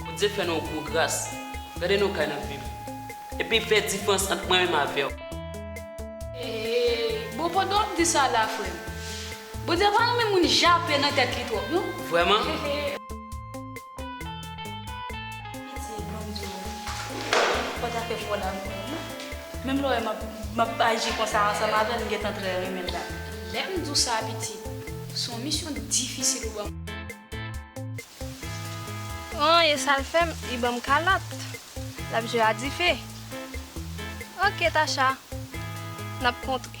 Bondye fè nou yon gwo gras, gade nou kay nap viv, epi fè difrans ant mwen menm avèw. Eeeee bon pandan wap di sa la frèm Bondye pa renmen moun jape nan tèt li twòp non. Vrèman. Piti banm di w fò ta fè fò l avè w wi. Menm lè w wè m ap aji konsa ansanm avè l m gentan trè renmen l la. Lè m di w sa piti, s on misyon difisil ou ban m. An e sa l fè m, li ban m kalòt. L ap jwe a dife. Ok Tacha, n ap kontre.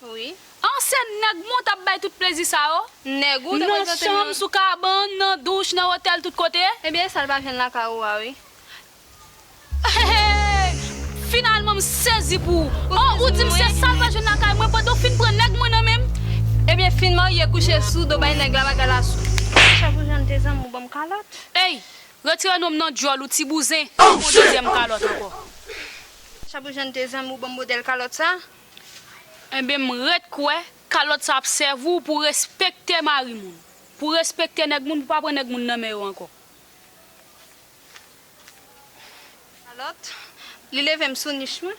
Wi. An se nèg mwen tap bay tout plezi sa yo? Nèg ou te Nan prezante m chanm, yo. sou kabann, nan douch, nan otèl tout kote? Ebyen esal pa jwenn lakay ou a wi. Heheheh! Finalman m sezi pou ou. Ou Oh ou sezi dim se mwen? sal pa jwenn lakay mwen pandan w fin pran nèg mwen nan menm? Ebyen fin marye kouche sou do bay nèg la bagay la sou. Ti chèf ou jwenn dezyèm ou banm kalòt? Ey! Retire non m nan dyòl ou ti bouzen, ou pran yon dezyèm kalòt ankò. Chèf ou jwenn dezyèm ou banm modèl kalòt sa? Enben m ret kwè kalòt sa ap sèvi w pou w respekte mari moun, pou w respekte nèg moun, pou w pa pran nèg moun nan men yo ankò. Kalòt, li leve m sou nich mwen.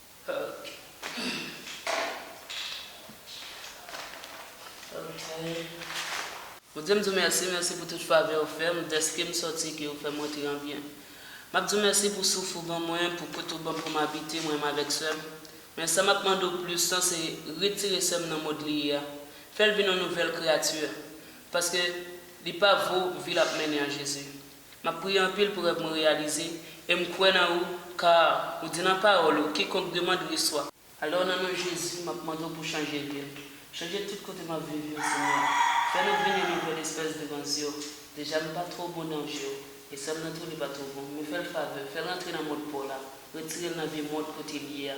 Bondye m di w mèsi, mèsi pou tout favè ou fè m, dèske m sòti ke ou fè m rantre an byen. M ap di w mèsi pou souf ou ban mwen, pou kote ou ban m pou m abite, mwen menm avèk sè m. Men sa m ap mande w plis lan se retire sè m nan mond li ye a, fè l vin yon nouvèl kreyati, paske li pa vo vi l ap mennen an Jezi. Map priye anpil pou rèv mwen reyalize, e m kwè nan ou, car ou di nan pawòl ou, kikonk demand reswa. Alò nan non Jezi map mande w pou chanje vi m, chanje tout kote map viv yo Senyè, fè nou vin yon nouvèl espès devan zye w, deja m pa two bon nan je w, e sa m nan tou li pa two bon, men fè l favè, fè l rantre nan mond pa w la, retire l nan vye mond kote l ye a.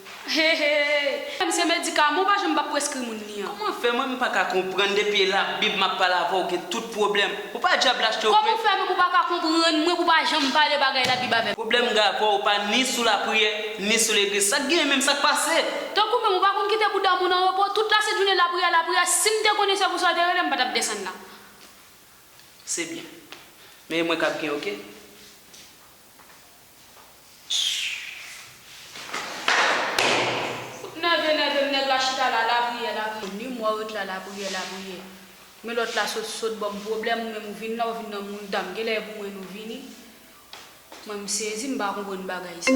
Heheheey Frèm se medikaman ou pa janm pa preskri moun li an. Kòman fè mwen m paka konprann depi e la bib map pale avèw gen tout pwoblèm ou pa djab la cho vre. Kòman fè mwen ou paka konprann mwen pou pa janm pale bagay la bib avèm. Pwoblèm gen avèw ou pa ni sou la priyè ni sou legliz sak genyen menm sak pase. Tankou menm ou pa konn kite bouda moun an repo tout la sent jounen la priyè la priyè sim te konnen se pou sa ou te relem m pa tap desann la. Se byen. Men e mwen kap gen ok. nève nève m nèg la chita la lapriyè lapriyè ni mwa ou ret la lapriyè lapriyè men lòt la sot sot banm pwoblèm ou menm ou vin la ou vin nan moun dam genlè e pou mwen nou vini mwen m sezi m pa konprann bagay sa.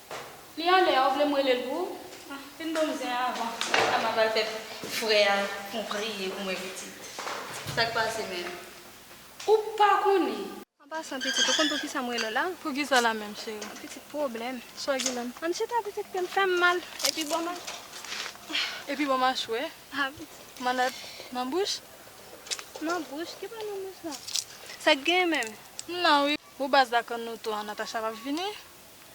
Li ale a ou vlem relel pou ou. Ah fin banm zen an avan. Sa map al fè frè a fon priye pou mwen pitit. Sak pase menm. Ou pa konnen. An pasan pitit ou konn pou kisa m rele w la? Pou kisa la menm cheri? Pitit pwoblèm. Swa gilèm. Ann chita pitit ke m fè m mal. Epi banm a. Epi banm a chwè. Ah pitit. Manad nan bouch. Nan bouch? Ki pa nan bouch la? Sak gen menm? M nan wi. Ou baz la konn nou tou an Natacha pap vini?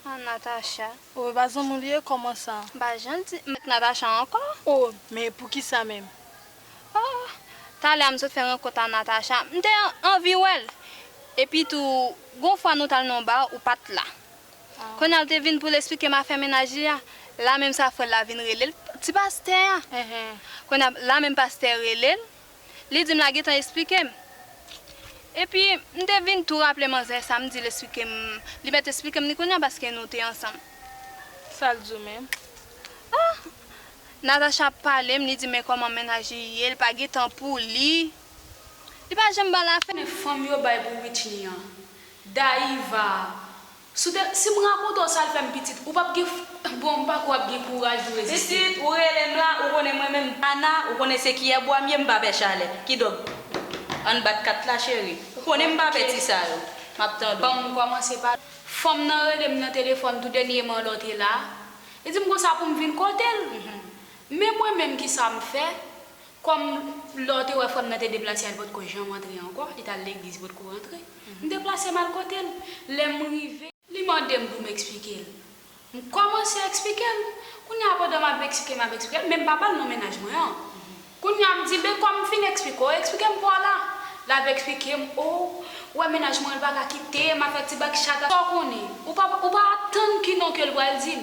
Ah Natacha oh epa zanmi w li ye koman sa. M pa janm di m ak Natacha anko. Oh men poukisa menm oh. Talè a m sot fè rankont a Natacha m te anvi wè l epi tou gon fwa nou tal nan yon bar ou pat la kounye a l te vin pou l esplike m afè mennaj li a la menm sa frè l la vin rele l ti pastè a kounye a la menm pastè rele l Li di m la gentan esplike m. Epi, m te vin tou raple manzè sa m di l esplike m, li mèt esplike m li kounye a paske nou te ansanm. Sa l di w menm? A! Natacha ap pale m, li di men kòman mennaj li ye, li pa gen tan pou li. Li pa janm ba l afè. Fanm yo bay pou Witchnie an. Dayiva! Soute sim rakonte w sal fem pitit ou pap gen bon m pako ap gen kouraj pou reziste. Pitit ou relem la ou konnen mwen menm Ana ou konnen se kiyè bwa m ye m pa pè chalè kidonk ann bat kat la cheri ou konnen m pa pè ti sa yo map tande w. Banm komanse pa. Fanm nan relem nan telefòn tou denyeman lè w te la li dim konsa poum vin kotel men mwen menm kisam fè Kòm, lè w te wè frè m nan te deplase al potko janm antre ankò, li t al legliz potko rantre, m deplase m al kote l. Lè m rive. Li mande m pou m eksplike l. M kòmanse eksplike l. Kounye a pandan m ap eksplike, m ap eksplike l, men m pa pale non mennaj mwen an. Kounye a m di l, men kòm m fin eksplike w, eksplike m pa w la. L ap eksplike m, o, ou wè mennaj mwen an l pa ka kite m, afè ti bak chat a. Sa w konnen. Ou pa atann ki non ke l pral di m.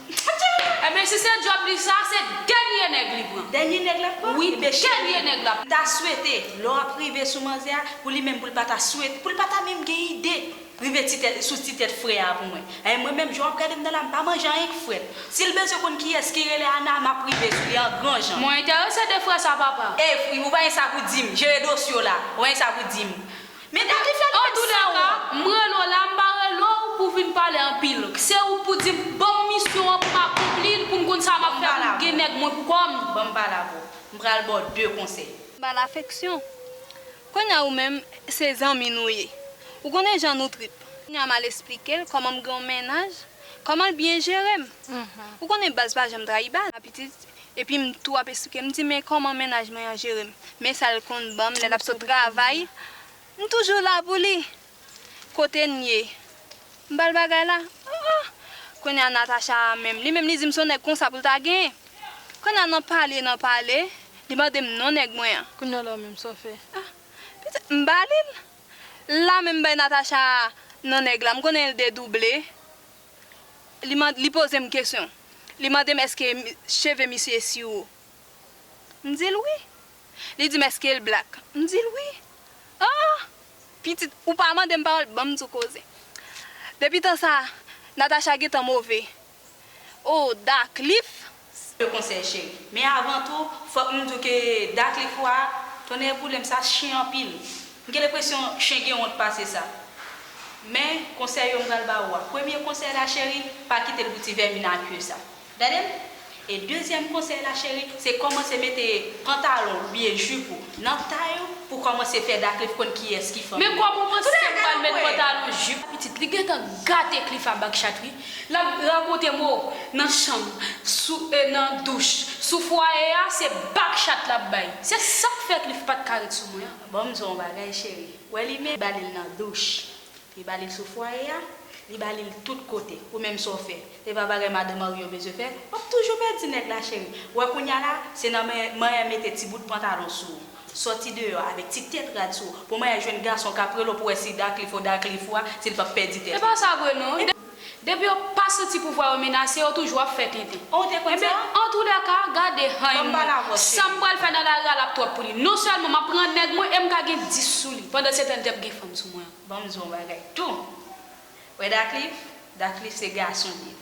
Ebyen si se job li sa se dènye nèg li pran. Dènye nèg lap pran? Wi dènye nèg lap. Ta swete lè w ap rive sou manzè a pou li menm pou l pa ta swete pou l pa ta menm gen ide rive ti tèt sou ti tèt frè a pou mwen anh mwen menm jan w ap gade m nan la m pa manje anyen k frèt si l bezwen konn kiyès ki rele Ana m ap rive sou li an gran jan. Mwen enterese de frè sa papa. Evry ou pa gen sa pou dim jere dosye w la ou pa gen sa pou dim. Men dat li fèl fè san wont. Odou Daka, m rele w la, m pa rele w pou w vin pale anpil. Se ou pou di m, ban m misyon an pou m akonpli l, pou m konn sa m ap fè pou m gen nèg mwen pou kò m. Ban m pale avè w. M pral ba w de konsèy. Ba l afeksyon. Kounye a ou menm, se zanmi nou ye. Ou konnen jan nou trip. Kounye a m al esplike l kòman m gen yon mennaj, kòman l byen jere m. Ou konnen baz pa janm trayi baz. Pitit, Epi m tou ap esplike m di men kòman mennaj mwen an jere m, men sa l konn ban m lè l ap sot travay, m toujou la pou li. Kote n ye? M ba l bagay la. Oh oh! Kounye a Natacha a menm, li menm li di m se yon nèg konsa pou l ta genyen. Kounye a nan pale nan pale, li mande m non nèg mwen an. Kounye a la w menm sa w fè? Ah! Pitit m ba li l. La menm m bay Natacha non nèg la, m konnen l dedouble. li poze m kesyon, li mande m èske cheve misye e siwo? M di l wi. Li di m èske l blak? M di l wi. Oh! Pitit, ou pa mande m pawòl, ban m di w koze. Depi tan sa a, Natacha gen tan move. Oh, Da Cliff! Spe konsèy cheri. Men avan tou fòk m di w ke Da Cliffwa a, tonnè boule m sa chen anpil. M gen lepresyon chen gen wont pase sa. Men konsèy yo m pral ba ou a. Premye konsèy la cheri, pa kite l pou ti vèmin a kye sa. Gade m? E dezyèm konsèy la cheri, se kòmanse mete pantalon w oubyen jup ou nan tay ou pou kòmanse fè Da Cliff konn kiyès ki fanmi. Men kòman w panse m pral met pantalon jup? Pitit, li gentan gate Cliff a bak chat wi. L ap rakonte mou nan chanm, sou e nan douch, sou fwaye a se bak chat l ap bay. Se sa k fè Cliff pa t ka ret sou mwen an. Ban m di w yon bagay cheri, ou wè limen, li ba li l nan douch, li ba li l sou fwaye a, li ba li l tout kote. Ou menm sa w fè? Se pa bagay madan marye w bezwen fè? W ap toujou pèdi nèg la cheri. Ou wè kounye a la, se nan manyè mete ti bout pantalon sou ou. Sòti deyò avèk ti tèt rad sou ou pou maryaj jèn gason kap rele w pou wè si Darcliff ou Darcliff ou a si l pap pèdi tèt li. Epa sa vre non. Depi yo pa santi pouvwa yo menase yo toujou ap fè tenten. Oh ou te konn sa? Enben antoulèka gade han Banm pale avè w chérie. Sam pral fè nan lari a lap twòp pou li. Non sèlman map pran nèg mwen em ka gen 10 sou li pandan se tan li tap gen fanm sou mwen. Banm di w yon bagay tou. Wè Darcliff? Darcliff se gason li ye.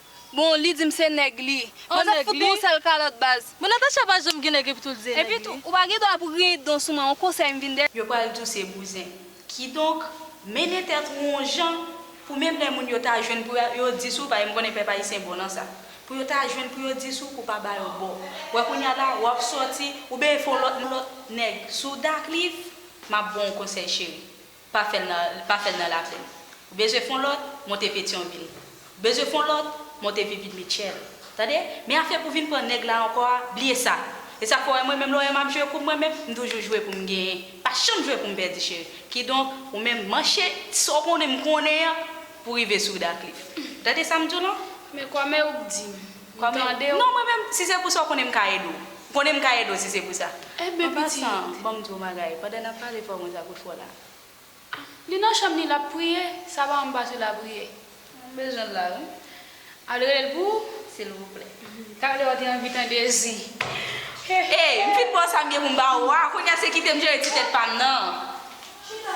Bon li dim se nèg li. Bon nèg li. Mwen tap fout nou yon sèl kalòt baz. Bon Natacha pa janm gen nèg epi tou li se nèg li. Epitou ou pa gen dwa pou griyen don sou mwen yon konsèy m vin de. Yo pral di w se bouzen. Kidonk, mennen tèt ou yon jan pou menm lè moun yo ta jwenn pou yo di sou, paske m konnen pèp ayisyen bon nan sa. Pou yo ta jwenn pou yo di sou pou pa ba yo bo. Wè kounya la w ap sòti oubyen fè yon lòt nèg sou w dakliv. M ap bon w konsèy cheri. Pa fè l pa fè l nan Laplèn. W bezwen fon lòt, monte Petyonvil. W bezwen fon lòt, monte Vivid Mitchell. Tande! Men afè pou vin pran nèg la ankò a, bliye sa! E sa k fè w wè mwen menm lè w wè m ap jwe kou mwen menm, m toujou jwe pou m genyen, pa janm jwe pou m pèdi cheri. Kidonk, ou menm manche ti sa w konnen m konnen an pou w rive sou Wda Klif. W tande sa m di w lan? Men kòmè ou k di m. Kòm e. Tande w. Non mwen menm si se pou sa w konnen m ka ede w. Ou konnen m ka ede w si se pou sa. Enben pitit. An pasan, ban m di w yon bagay. Pandan n ap pale fò mwen sa kout fò la. Li nan chanm li l ap priye. Sa pa anba sou lapriyè. M bezwen l la wi. Al rele l pou. Silvouplè. Talè w te anvi tande zi. Hey, m fin pran sa m gen pou m ba ou a. Kounye a se kite m jere ti tèt pa m nan. Chita.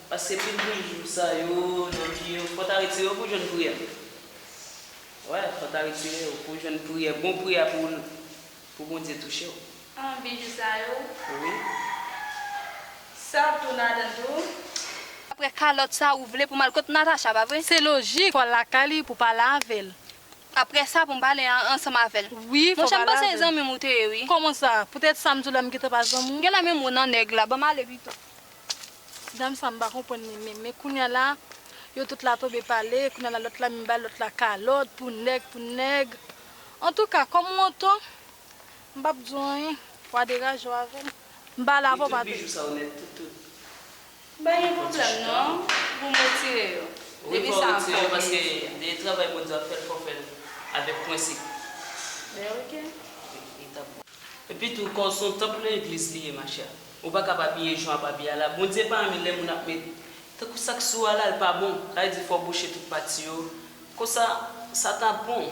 Paske pil moun jou sa yo nan vi yo fò ta retire yo pou jwenn priyè wè fò ta retire yo pou jwenn priyè bon priyè pou pou Bondye touchew. An bijou sa yo wi sa ap tou ladann tou. Aprè kalòt sa ou vle pou mal kot Natacha pa vre. Se lojik fòl lakay li pou pale avèl aprè sa poum pale ansanm avèl wi fò pale avèl. Monchè m panse se zanmim ou te ye wi. Koman sa? Poutèt sa m di w la m gentan pa zanmi w. Genlè menm ou nan nèg la, banm ale pito. Dam sa mpa konprann li menm men kounya la yo tout la tonbe pale kounya la lòt la menm bay lòt la kalòt pou nèg pou nèg antouka kòm ou anton mpap diw anyen wa deraj ou avèm mpa la avèw papi. Pa gen pwoblèm non poum retire yo depi sa an fè ou byen di. Epitou kò w son tanp nan egliz li ye ma chère. Ou pa kab abiye jan wap abiye a la Bondye pa renmen lè moun ap met tankou sak sou a la l pa bon sa vle di fò w bouche tout pati yo konsa sa ta bon.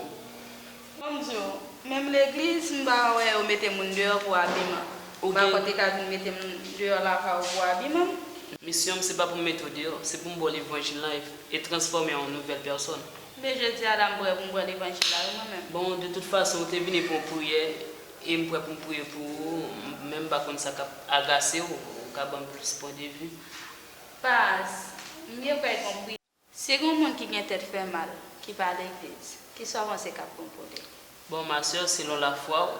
Bon m diw, menm legliz m pa wè yo mete moun deyò pou abiman. M pa kwè te ka vin mete m deyò lakay ou pou abiman m. Misyon m se pa pou m mete w deyò, se pou m ba w levanjil lan e transfòme an yon nouvèl pèsòn. Men jodi a la m prè pou m pran levanjil la wi mwen menm. Bon de tout fason ou te vini pou yon priyè. E m prè pou m priye pou ou. M menm pa konn sa k ap agase w. Ou ka ban m plis pwendevi? Pas, m byen kwè gen yon priyè. Si gen yon moun ki gen tèt fè mal, ki pa legliz, ki sa w panse k ap bon pou li? Bon, ma sè, selon lafwa ou,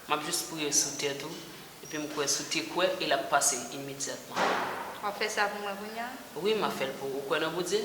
m ap jis priye sou tèt ou, epi m kwè si w te kwè e l ap pase imedyatman. W ap fè sa pou mwen kounya? Wi, m ap fè l pou ou. Ou kwè nan Bondye?